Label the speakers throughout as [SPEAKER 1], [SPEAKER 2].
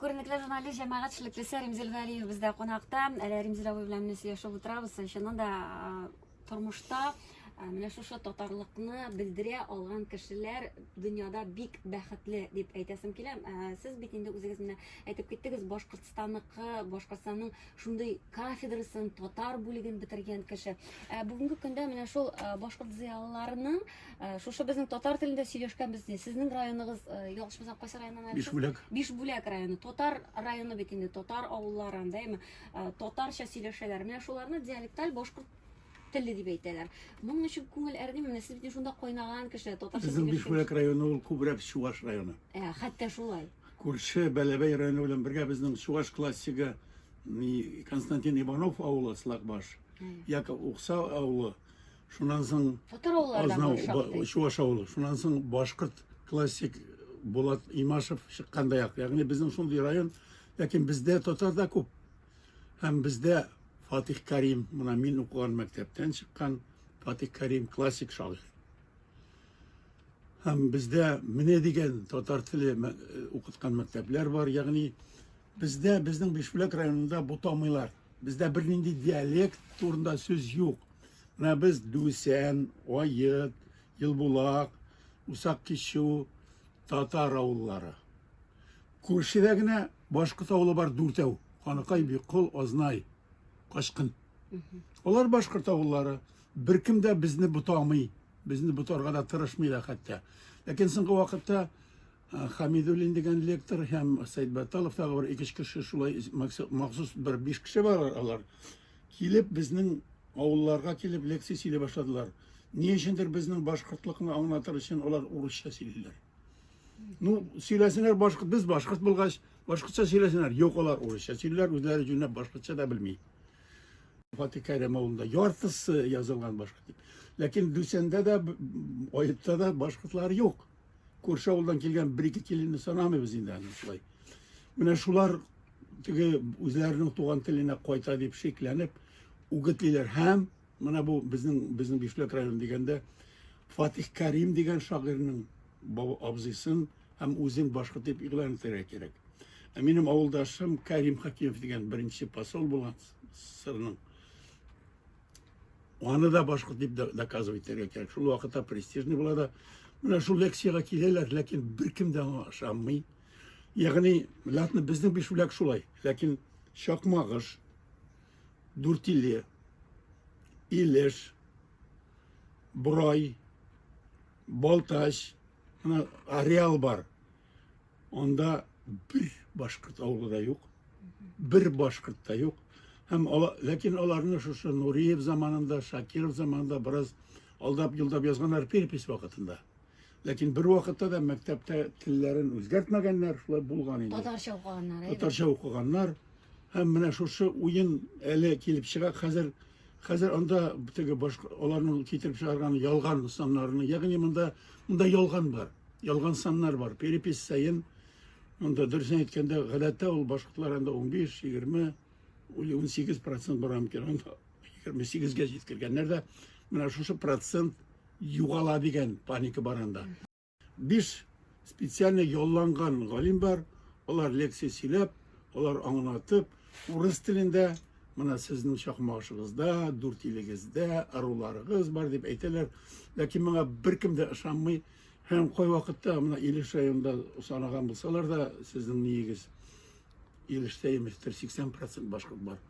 [SPEAKER 1] Күренекле журналист җәмәгать эшлеклесе Римзил Галиев бездә кунакта. Әле Римзил абый белән менә сөйләшеп утырабыз. Чыннан да тормышта менә шушы татарлыкны белдерә алган кешеләр дөньяда бик бәхетле дип әйтәсем килә. Сез бит инде үзегез менә әйтеп киттегез, Башкортстанныкы, Башкортстанның шундый кафедрасын, татар бүлеген бетергән кеше. Ә бүгенге көндә менә шул башкорт зыялыларының шушы безнең татар телендә сөйләшкәнбез ди. Сезнең районыгыз, ялгышмасам, кайсы районнан әле? Бишбүләк. Бишбүләк районы. Татар районы бит инде, татар авыллары, әйме? Татарча сөйләшәләр. Менә шуларны диалекталь башкорт теле дип әйтәләр. Моның өчен күңел әрни менә сез бит шунда кайнаган кеше, татарча. Безнең Бишбүләк районы
[SPEAKER 2] ул күбрәк Чуваш районы. Ә, хәтта шулай.
[SPEAKER 1] Күрше Бәләбәй
[SPEAKER 2] районы белән бергә безнең чуаш классигы Константин Иванов авылы Слакбаш, Яков Укса авылы, шуннан соң Азнау
[SPEAKER 1] чуаш авылы, шуннан
[SPEAKER 2] соң башкорт классик Булат Имашев чыкканда як. Ягъни безнең шундый район, ләкин бездә татар да күп. Һәм бездә Фатих Карим, менә мин укыган мәктәптән чыккан Фатих Карим классик шагыйрь. Һәм бездә менә дигән татар теле мәк- э, укыткан мәктәпләр бар, ягъни бездә, безнең Бишбүләк районында бутамыйлар. Бездә бернинди диалект турында сүз юк. Менә без Дүсән, Аед, Елбулак, Усак Кичү, татар авыллары. Күршедә генә башкорт авылы бар дүртәү. Ханыкай, Биккол, Азнай, Качкын. Алар башкорт авыллары. Беркем дә безне бутамый. Безне ботарга да тырышмыйлар хәтта. Ләкин соңгы вакытта Хамидуллин дигән лектор һәм Сәйд Бәтталов тагы бер ике кеше шулай махсус бер биш кеше бар алар. Килеп безнең авылларга килеп лекция сөйли башладылар. Ни өчендер безнең башкортлыкны аңлатыр өчен алар урысча сөйлиләр. Ну, сөйләсеннәр башкорт, без башкорт булгач, башкортча сөйләсеннәр. Юк, алар урысча сөйлиләр, үзләре җүнләп башкортча да белми. Фатих Кәрем авылында яртысы язылган башкорт дип. Ләкин Дүсәндә дә, Аетта да башкортлар юк. Күрше авылдан килгән бер-ике киленне санамыйбыз инде аны шулай. Менә шулар теге үзләренең туган теленә кайта дип шикләнеп үгетлиләр һәм менә бу безнең безнең Бишлек районы дигәндә Фатих Кәрим дигән шагыйрьнең абзыйсын һәм үзен башкорт дип игълан итәргә кирәк. Ә минем авылдашым Кәрим Хәкимов дигән беренче посол булган сырның. Аны да башкорт дип доказывать итәргә кирәк. Шул вакытта престижный була да. Менә шул лекциягә киләләр, ләкин беркем дә аңа ышанмый. Ягъни, латны безнең бишүләк шулай, ләкин Чакмагыш, Дүртиле, Илеш, Брай, Балтач, ана Ареал бар. Анда бер башкорт авылы да юк. Бер башкорт та юк. Һәм ала, ләкин аларны шушы Нуриев заманында, Шакиров заманында бераз алдап юлдап язганнар перепись вакытында. Ләкин бер вакытта да мәктәптә телләрен үзгәртмәгәннәр, шулай булган инде. Татарча укыганнар. Татарча
[SPEAKER 1] укыганнар.
[SPEAKER 2] Һәм менә шушы уен әле килеп чыга, хәзер Хәзер анда теге баш аларның китереп чыгарган ялган саннарны, ягъни монда монда ялган бар. Ялган саннар бар. Перепись саен монда дөресен әйткәндә, гадәттә ул башкортлар анда 15, 20, 18% бара микән? Анда 28-гә җиткергәннәр дә. Менә шушы процент югала дигән паника бар анда. Биш специально ялланган галим бар, алар лекция сөйләп, алар аңлатып, урыс телендә Мына сезнең чакмагышыгызда, дүрт илегездә аруларыгыз бар дип әйтәләр. Ләкин моңа беркем дә ышанмый. Һәм кой вакытта мына Илеш районында санаган булсалар да, сезнең ниегез Илештә иместер 80% башкорт бар.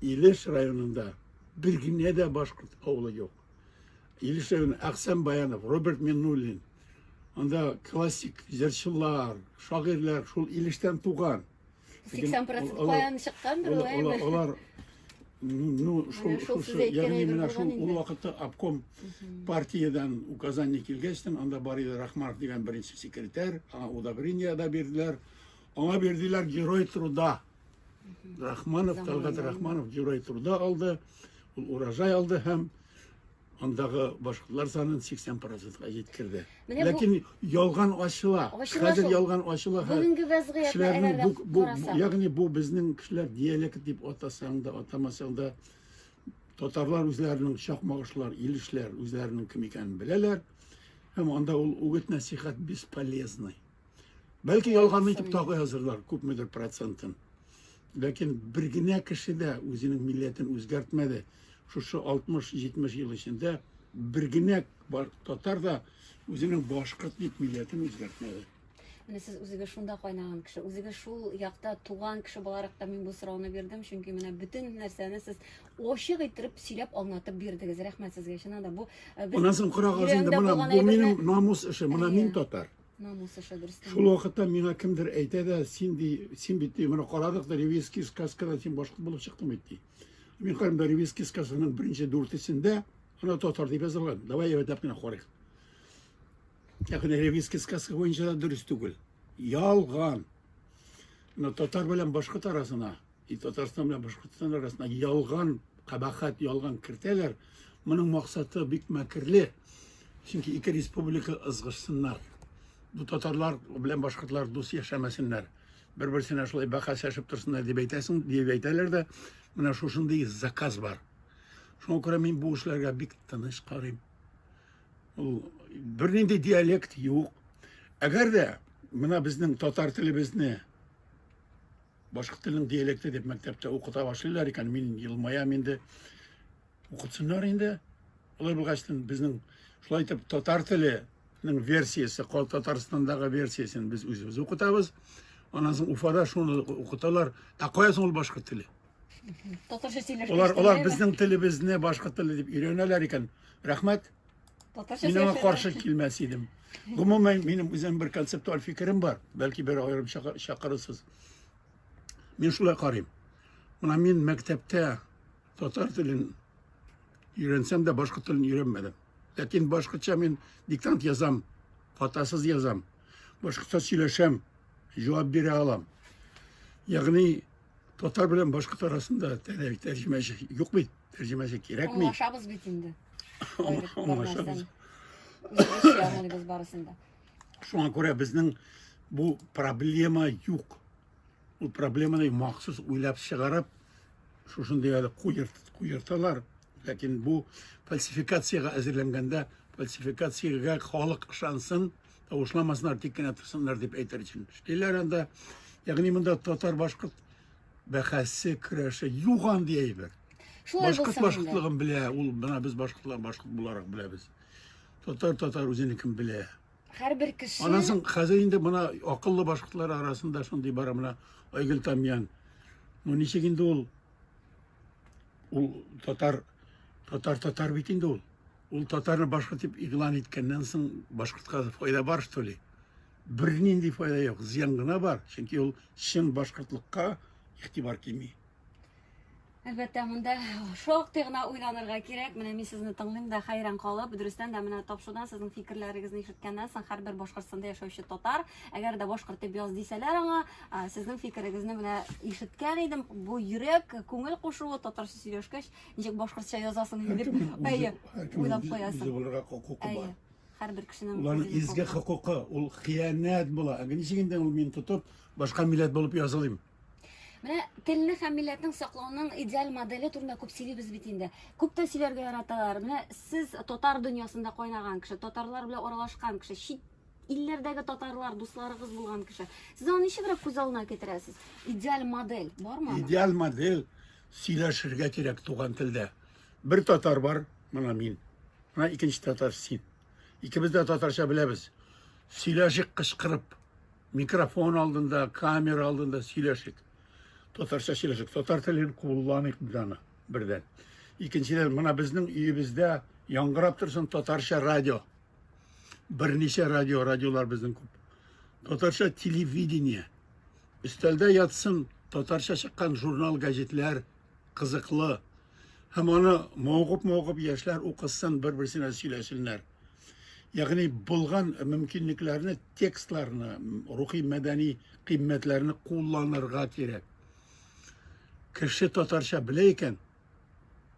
[SPEAKER 2] Илеш районында бер генә дә башкорт авылы юк. Елешевин, Әхсән Баянов, Роберт Миннуллин. Анда классик җырчылар, шагыйрьләр шул Илештән туган. 80% каян чыккандыр
[SPEAKER 1] ул әйме? Алар
[SPEAKER 2] ну шул шушы ягъни менә шул ул вакытта обком партиядән указание килгәчтен анда бар иде рахманов дигән беренче секретарь аңа удобрение да бирделәр аңа бирделәр герой труда Рахманов, Талгат Рахманов Җурай турда алды, ул урожай алды һәм андагы башкортлар санын 80 процентка җиткерде. Ләкин ялган ачыла. Хәзер ялган ачыла. Бүгенге вәзгыятьне
[SPEAKER 1] бу, бу, ягъни бу
[SPEAKER 2] безнең кешеләр диалект дип атасаң да, атамасаң да татарлар үзләренең чакмагышлар, илешләр үзләренең кем икәнен беләләр. Һәм анда ул үгет-нәсихәт бесполезный. Бәлки ялганны итеп тагы язырлар, күпмедер процентын. Ләкин бер генә кеше дә үзенең милләтен үзгәртмәде. Шушы 60-70 ел эчендә бер генә татар да үзенең башкорт дип милләтен үзгәртмәде. Менә сез үзегез
[SPEAKER 1] шунда кайнаган кеше, үзегез шул якта туган кеше буларак та мин бу сорауны бирдем, чөнки менә бөтен нәрсәне сез ачык иттереп сөйләп аңлатып бирдегез. Рәхмәт сезгә, чыннан да бу э, Аннан соң карагыз
[SPEAKER 2] инде, менә бу минем намус эше, менә мин татар.
[SPEAKER 1] Шул вакытта миңа
[SPEAKER 2] кемдер әйтә дә, син ди, син бит ди, менә карадык да Ревизский сказкада син башкорт булып чыктың бит ди. Мин карыйм да Ревизский сказкасының беренче дүртесендә ана татар дип язылган. Давай рәтләп кенә карыйк. Ләкин Ревизский сказка буенча да дөрес түгел. Ялган. Менә татар белән башкорт арасына И Татарстан белән Башкортстан арасына ялган кабахат, ялган кертәләр. Моның максаты бик мәкерле. Чөнки ике республика ызгышсыннар. Бу татарлар белән башкортлар дус яшәмәсеннәр. Бер-берсенә шулай бәхәсләшеп торсыннар дип әйтәсең, дип әйтәләр дә, менә шушындый заказ бар. Шуңа күрә мин бу эшләргә бик тыныч карыйм. Ул бернинди диалект юк. Әгәр дә менә безнең татар телебезне Башкорт телен диалекты дип мәктәптә укыта башлыйлар икән, мин елмаям инде. Укытсыннар инде. Алай булгачтын безнең шулай итеп татар теленең версиясе, Кал Татарстандагы версиясен без үзебез укытабыз. Аннан соң Уфада шуны укыталар. Ә кая соң ул башкорт теле? Татарча сөйләшкәч.
[SPEAKER 1] Алар алар безнең
[SPEAKER 2] телебезне башкорт теле дип өйрәнәләр икән. Рәхмәт. Татарча Мин
[SPEAKER 1] аңа каршы
[SPEAKER 2] килмәс идем. Гомумән, минем үзем бер концептуаль фикерем бар. Бәлки бер аерым чакырырсыз. Мин шулай карыйм. Менә мин мәктәптә татар телен өйрәнсәм дә башка телен өйрәнмәдем. Ләкин башкача мин диктант язам, хатасыз язам, башкача сөйләшәм, җавап бирә алам. Ягъни татар белән башкорт арасында тәрҗемәче юк бит. Тәрҗемәсе кирәкми. Аңлашабыз
[SPEAKER 1] бит инде. Аңлашабыз.
[SPEAKER 2] Аңлашабыз
[SPEAKER 1] барысында. Шуңа күрә
[SPEAKER 2] безнең бу проблема юк. Ул проблеманы махсус уйлап чыгарып, шушындый әле куерталар. Ләкин бу фальсификациягә әзерләнгәндә, фальсификациягә халык ышансын, тавышламасыннар, тик кенә торсыннар дип әйтер өчен. Эшлиләр анда. Ягъни монда татар-башкорт бәхәсе, көрәше юк андый әйбер. Шулай Башкорт булсын
[SPEAKER 1] башкортлыгын
[SPEAKER 2] белә,
[SPEAKER 1] ул
[SPEAKER 2] менә без башкортлар башкорт буларак беләбез. Татар татар үзенекен белә. Һәрбер кеше
[SPEAKER 1] Аннан соң хәзер инде
[SPEAKER 2] мына акыллы башкортлар арасында шундый бара менә Айгөл Тамьян. Ну ничек инде ул ул татар татар татар бит инде ул. Ул татарны башкорт дип игълан иткәннән соң башкортка файда бар что ли? бернинди файда юк, зыян гына бар, чөнки ул чын башкортлыкка игътибар кими.
[SPEAKER 1] Әлбәттә, монда шактый гына уйланырга кирәк. Менә мин сезне тыңлыйм да хәйран калып, дөрестән дә менә тапшудан сезнең фикерләрегезне ишеткәннән соң һәрбер Башкортстанда яшәүче татар, әгәр дә башкорт дип яз дисәләр аңа, сезнең фикерегезне менә ишеткән идем. Бу йөрәк, күңел кушуы татарча сөйләшкәч, ничек башкортча язасың дип, әйе, уйлап куясың. Әйе. Һәрбер кешенең Уларның изге хокукы,
[SPEAKER 2] ул хыянәт була. Әгә ничек инде ул мин тотып, башка милләт булып язылыйм? Менә
[SPEAKER 1] телне һәм милләтнең саклауның идеаль модели турында күп сөйлибез бит инде. Күп тә сөйләргә яраталар. Менә сез татар дөньясында кайнаган кеше, татарлар белән аралашкан кеше, чит илләрдәге татарлар дусларыгыз булган кеше. Сез аны ничегрәк күз алдына китерәсез? Идеаль модель бармы? Идеаль модель
[SPEAKER 2] сөйләшергә кирәк туган телдә. Бер татар бар, менә мин. Менә икенче татар син. Икебез дә татарча беләбез. Сөйләшик кычкырып. Микрофон алдында, камера алдында сөйләшик. Татарча сөйләшик. Татар телен кулланыйк даны бердән. Икенчедән, менә безнең өебездә яңгырап торсын татарча радио. Берничә радио, радиолар безнең күп. Татарча телевидение. Өстәлдә ятсын татарча чыккан журнал, газетләр, кызыклы. Һәм аны мавыгып-мавыгып яшьләр укысын, бер-берсенә сөйләсеннәр. Ягъни булган мөмкинлекләрне, текстларны, рухи мәдәни кыйммәтләрне кулланырга кирәк. Кеше татарча белә икән,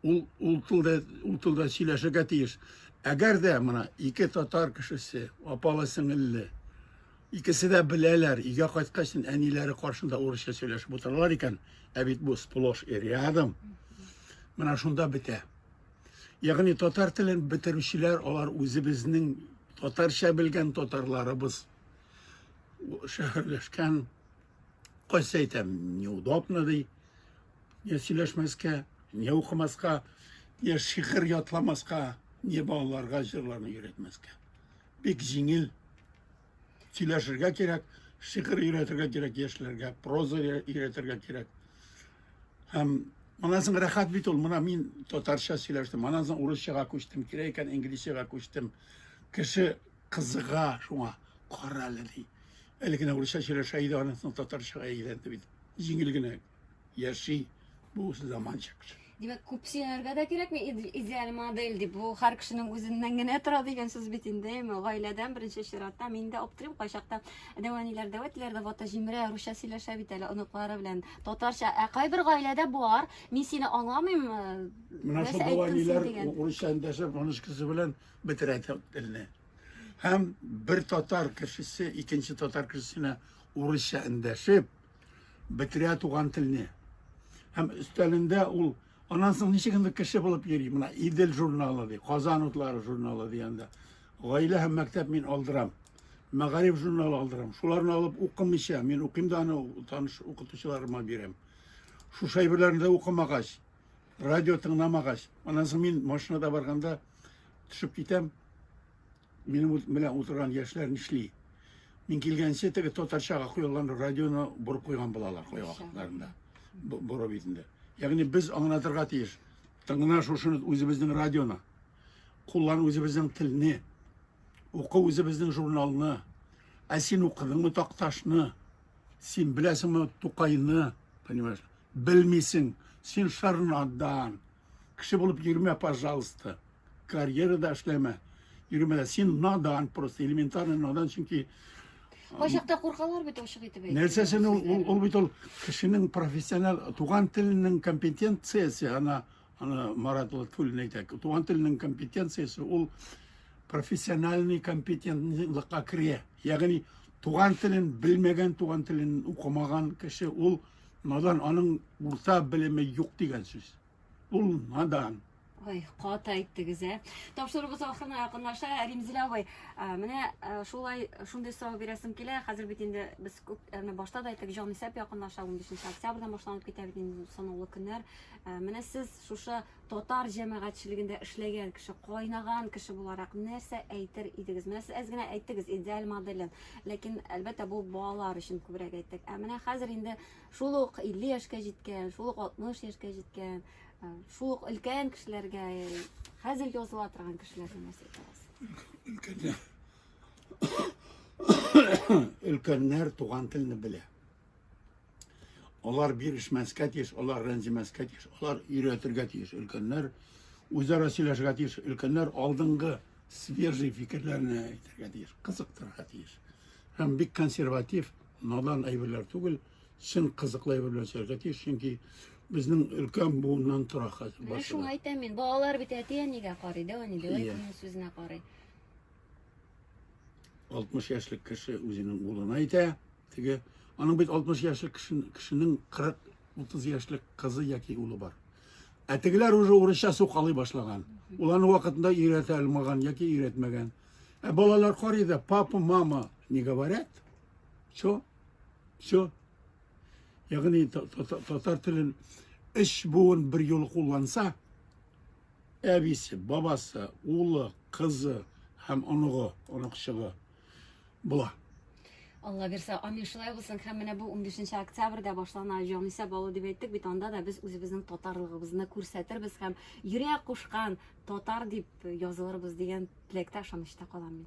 [SPEAKER 2] ул ул телдә ул телдә сөйләшергә тиеш. Әгәр дә менә ике татар кешесе, апалы-сеңелле, Икесе дә беләләр, өйгә кайткач, әниләре каршында урысча сөйләшеп утыралар икән, ә бит бу сплош и рядом. Менә шунда бетә. Ягъни татар телен бетерүчеләр алар үзебезнең татарча белгән татарларыбыз шәһәрләшкән кайсы әйтә неудобно ди не сөйләшмәскә не укымаска не шигырь ятламаска не балаларга җырларны өйрәтмәскә Бик җиңел. Сөйләшергә кирәк, шигырь өйрәтергә кирәк яшьләргә, проза өйрәтергә кирәк. Һәм аннан соң рәхәт бит ул. Менә мин татарча сөйләштем, аннан соң урысчага күчтем, кирәк икән инглизчага күчтем. Кеше кызыга шуңа, кара әле ди. Әле генә урысча сөйләшә иде, аннан соң татарчага әйләнде бит. Җиңел генә. яши, бу заманча кеше. Димәк, күп сөенергә
[SPEAKER 1] дә кирәкми, идеаль модель дип. Бу һәр кешенең үзеннән генә тора дигән сүз бит инде. Гаиләдән беренче чиратта мин дә аптырыйм, кайчакта дәвәниләр, дәвәтләр дә вата җимерә, русча сөйләшә бит әле оныклары белән. Татарча, ә кайбер гаиләдә бар. Мин сине аңламыйм. Менә шул
[SPEAKER 2] дәвәниләр урысча эндәшеп, аныш кеше белән бетерә телне. Һәм бер татар кешесе икенче татар кешесенә урысча эндәшеп, бетерә туган телне. Һәм өстәлендә ул аннан соң ничек инде кеше булып йөри? Менә Идел журналы ди, Казан утлары журналы дигәндә. Гаилә һәм мәктәп мин алдырам. Мәгариф журналы алдырам. Шуларны алып укымыйча, мин укыйм да аны таныш укытучыларыма бирәм. Шушы әйберләрне дә укымагач, радио тыңламагач, аннан соң мин машинада барганда төшеп китәм, Минем белән утырган яшьләр нишли? Мин килгәнче теге татарчага куелган радионы борып куйган булалар койгакларында. Борып итендә. Ягъни без аңлатырга тиеш. Тыңна шушыны үзебезнең радионы. Куллан үзебезнең телне. Укы үзебезнең журналны. Ә син укыдыңмы Такташны? Син беләсеңме Тукайны? Понимаешь? Белмисең. Син шарнадан. Кеше булып йөрмә, пожалуйста. Карьерада эшләмә. Йөрмә дә. Син надан просто, элементарный надан, чөнки Кайчакта
[SPEAKER 1] куркалар бит ачык итеп әйтә. Нәрсәсен ул, ул, ул
[SPEAKER 2] бит ул кешенең профессиональ туган теленең компетенциясе, ана, ана Марат Латфуллин әйтә, туган теленең компетенциясе ул профессиональный компетентлыкка керә. Ягъни туган телен белмәгән, туган телен укымаган кеше ул Надан аның урта белеме юк дигән сүз. Ул надан. Ой, каты
[SPEAKER 1] әйттегез, ә. Тапшыруыбыз ахырына якынлаша. Римзилә абый, менә шулай шундый сорау бирәсем килә. Хәзер бит инде без күп менә башта да әйттек, җанисәп якынлаша 15 октябрьдән башланып китә бит инде санаулы көннәр. Менә сез шушы татар җәмәгатьчелегендә эшләгән кеше, кайнаган кеше буларак нәрсә әйтер идегез? Менә сез әз генә әйттегез идеаль моделен. Ләкин, әлбәттә, бу балалар өчен күбрәк әйттек. Ә менә хәзер инде шул ук 50 яшькә җиткән, шул ук 60 яшькә җиткән, э, шул ук өлкән кешеләргә, э, хәзер языла торган кешеләргә нәрсә әйтәсез? Өлкәннәр,
[SPEAKER 2] өлкәннәр туган телне белә. Алар бирешмәскә тиеш, алар рәнҗемәскә тиеш, алар өйрәтергә тиеш. Өлкәннәр үзара сөйләшергә тиеш. Өлкәннәр алдынгы свежий фикерләрне әйтергә тиеш, кызыктырырга тиеш. Һәм бик консерватив, надан әйберләр түгел, чын кызыклы әйбер белән сөйләргә тиеш, чөнки безнең өлкән буыннан тора хәзер. Менә шуңа әйтәм
[SPEAKER 1] мин, балалар бит әти-әнигә карый, дәү әни, дәү әтинең сүзенә
[SPEAKER 2] карый. 60 яшьлек кеше үзенең улына әйтә, Теге, аның бит 60 яшьлек кешенең 40-30 яшьлек кызы яки улы бар. Ә тегеләр уже урысча сукалый башлаган. Ул аны вакытында өйрәтә алмаган яки өйрәтмәгән. Ә балалар карый да, папа, мама не говорят. Все. Все. Ягъни татар телен эш буын бер юлы кулланса, әбисе, бабасы, улы, кызы һәм оныгы, оныкчыгы була.
[SPEAKER 1] Алла бирсә, амин шулай булсын. Һәм менә бу 15 октябрьдә башлана Җанисә балу дип әйттек бит, анда да без үзебезнең татарлыгыбызны күрсәтербез һәм йөрәк кушкан татар дип язылырбыз дигән теләктә ышанычта калам мин.